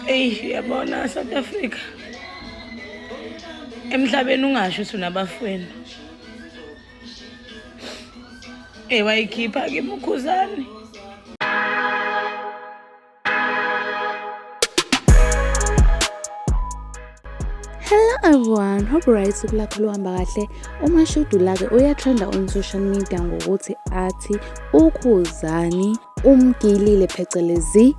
eyi uyabona south africa emhlabeni ungasho ukuthi unabafweni eyi wayikhipha ke mukhuzane Hello everyone, hope right kulakho luhamba kahle. Uma shudu lake uyatrenda on social media ngokuthi athi ukhuzani umgilile phecelezi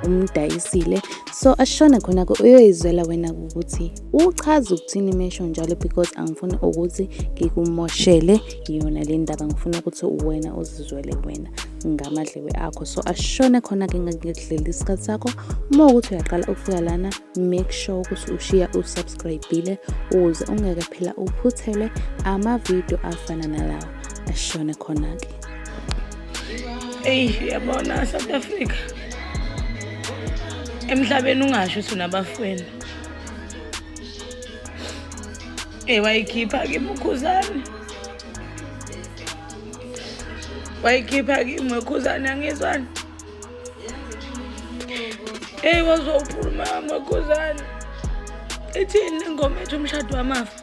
umdayisile so ashona khona-ke uyoyizwela wena ukuthi uchaza ukuthini mesho njalo because angifuni ukuthi ngikumoshele yona le ndaba ngifuna ukuthi wena uzizwele wena ngamadlebe akho so ashone khona-ke ngakudlela isikhathi sakho uma ukuthi uyaqala ukufika lana make sure ukuthi ushiya usubscribile ukuze ungeke phela uphuthelwe amavidiyo afana nalawo ashone khona-ke eyi uyabona south africa emhlabeni ungasho ukuthi unabafweni e wayikhipha kimukhuzane wayikhipha kimwe khuzane angizwani eyi wazwa uphuluma mwekhuzane ithini ingoma ethi umshado wamafa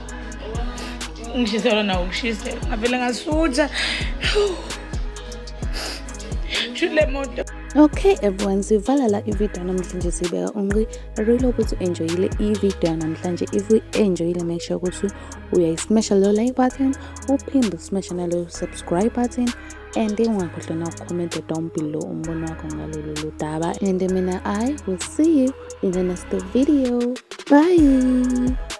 ungishiselwa nawo ungishise ngavele ngasutha shule moto okay everyone sivala la ividiyo yanamhlanje siyibeka unqi really ukuthi u-enjoyile ividiyo yanamhlanje if u-enjoyile make sure ukuthi uyayismasha leyo like button uphinde usmasha naleyo subscribe button and ungakhohlwa nakukhomenta down below umbono wakho ngalolu ludaba and mina i will see you in the next video bye